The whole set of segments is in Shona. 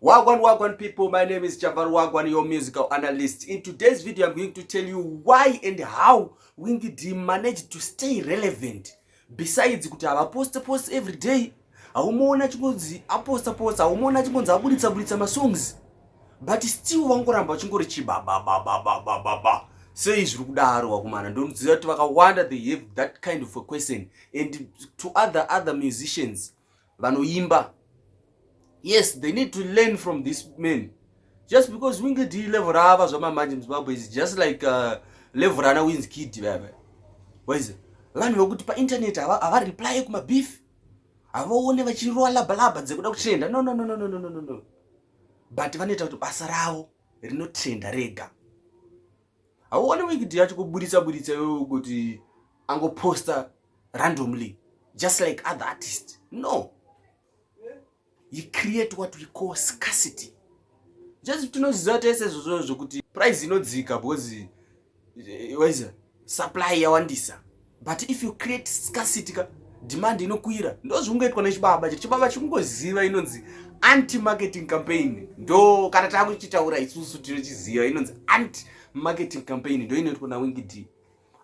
Wagwan, wagwan people, my name is Javar Wagwan, your musical analyst. In today's video, I'm going to tell you why and how Winky D managed to stay relevant. Besides, kuti havaposte post every day, haumaona chingonzi aposta posta, haumaona chingonzi aburitsa buritsa masongs. But still vangoramba vachingori chibababababababa. Sei zviri kudaro wakumana? Ndonoziva kuti vakawanda they have that kind of a question and to other other musicians vanoimba yes they need to learn from this man just because winge d level raava zvamamanje muzimbabwe is just like uh, level rana wins kid vava waize vanhu vekuti painternet havareply kumabeef havaone vachirowa labalaba dzekuda kutrenda no no no no no no no no but vanoita kuti basa ravo rinotrenda rega hauone wikidi yacho kuburitsa buritsa iwe kuti angoposta randomly just like other artists no he create what we call scarcity just tinoziva tese zvozvo zvokuti price inodzika because eh, waiza supply yawandisa but if you create scarcity ka demand inokwira ndozvingoitwa nechibaba chiri chibaba chikungoziva inonzi anti marketing campaign ndo kana taakuchitaura isusu tinochiziva inonzi anti marketing campaign ndo inoitwa nawingidi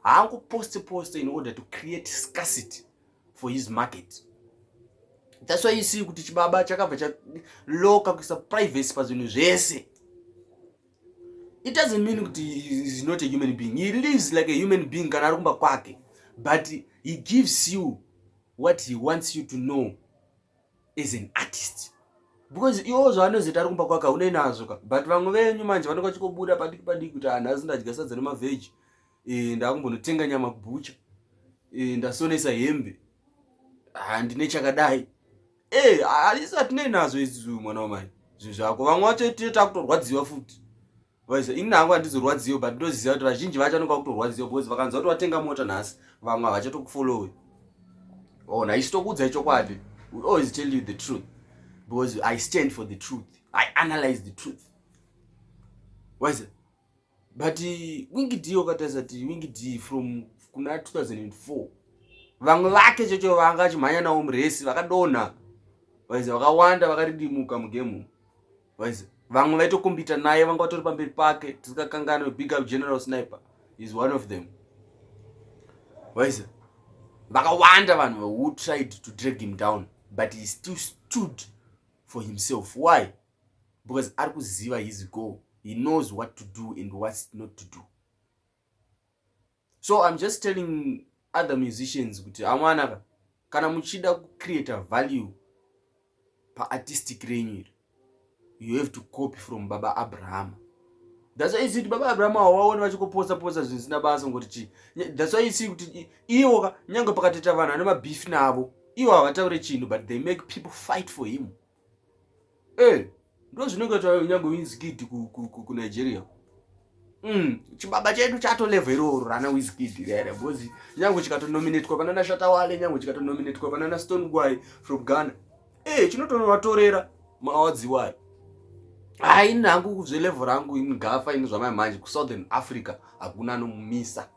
haangoposti posti in order to create scarcity for his market that's why you see kuti chibaba chakabva chaloka kuisa privacy pazvinhu zvese it doesn't mean kuti is not a human being he lives like a human being kana ari kumba kwake but he gives you what he wants you to know as an artist because iwo zvaanozoita ari kumba kwake haunei nazvo ka but vamwe venyu manje vanenge vachikobuda padiki padiki kuti anhu ah, azi ndadya sadza nemavheji eh, ndakumbonotenga nyama kubhucha eh, ndasonesa hembe handine ah, chakadai eh, asi atinei nazvo isu mwana wamai zvinhu zvako vamwe vacho takutorwadziwa futi Waiza ini hangu handizorwadziwe but ndoziva kuti vazhinji vacho anoka kutorwadziwa because vakanzwa kuti watenga mota nhasi vamwe havachatokufollowe ona oh, isi tokuudzai chokwadi we always tell you the truth because i stand for the truth i analyze the truth waiza but uh, wingi d wakatarisa ti wingi d from kuna 2004 vamwe vake chocho vanga achimhanya nawo muresi vakadonha vaiza vakawanda vakaridimuka mugemu vamwe vaitokombita naye vanga vatori pamberi pake tisikakangana big up general sniper is one of them waiza vakawanda vanhu who tried to drag him down but he still stood for himself why because ari kuziva his goal he knows what to do and what not to do so im just telling other musicians kuti amwanaka kana muchida kucreata value paartistic renyu iri you have to copy from baba abraham thats why isii kuti baba abraham hawaoni vachikopotsa potsa zvinhu zvisina basa ngoti chii thats why isii kuti iwo ka nyange pakatoita vanhu ane mabeef navo iwo havataure chinhu but they make people fight for him Eh, ndozvinenge nyangwe wizkid kunigeria ku, ku, ku Mm, chibaba chedu chato level iroro rana wizkid rere bozi nyange chikatonominatwa panana shatawale nyange chikatonominatwa panana stone guy from ghana ee eh, chinotonovatorera maawards iwayo hai ini hangu zvelevel rangu ini gafa ini zvamai manje kusouthern africa hakuna anomumisa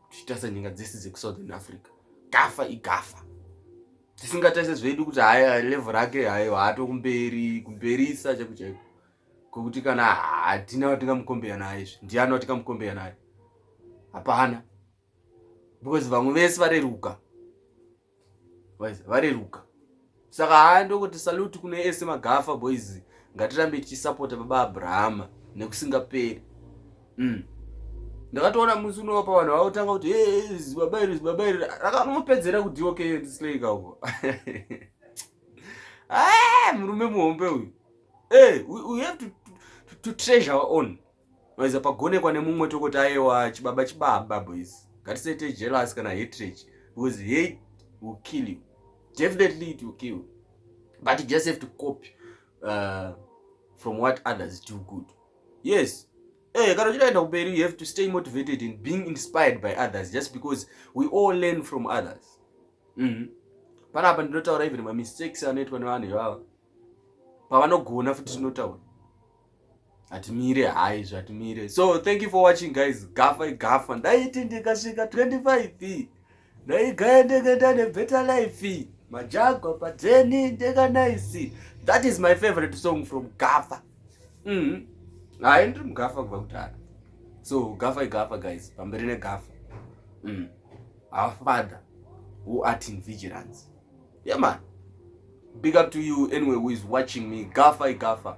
tichitarisa nyika dzese dzekusouthern africa gafa igafa tisingatarise zvedu kuti haya level rake hayo haato kumberi kumberisa chaiko chaiko kokuti kana hatina watingamukombeya naye izvi ndiani watingamukombeya naye hapana because vamwe vese vareruka vareruka saka haa ndokuti saluti kune ese magafa boys ngatirambe tichisapota baba abrahama nekusingaperi mm. ndakatoona musi unopa vanhu vautanga kuti zibaba iri zibaba iri rakanopedzera kuti okay ndisleyika uko ah, murume muhombe uyu hey, eh, we, we have to, to, to treasure our own vaiza pagonekwa nemumwe tokoti ayewa chibaba chibaba boys ngatisaite jealous kana hatred because hate will kill you definitely it will kill you but you just have to copy uh, from what others do good yes Eh, kana uchidaenda kumberi you have to stay motivated and being inspired by others just because we all learn from others mm -hmm. panapa ndinotaura even mamistakes anoitwa nevanhu ivava pavanogona futi tinotaura hatimire hai zvatimire so thank you for watching guys gafa igafa ndaiti ndikasvika 25 Ndaigaya ndegenda nebetter life. Majagwa padzeni ndega nice. That is my favorite song from Gafa. Mhm. Mm Hayi ndiri muGafa kubva kudhara. So Gafa igafa guys, pamberi neGafa. Mhm. Mm. Our father who art in vigilance. Yeah man. Big up to you anyway who is watching me. Gafa igafa.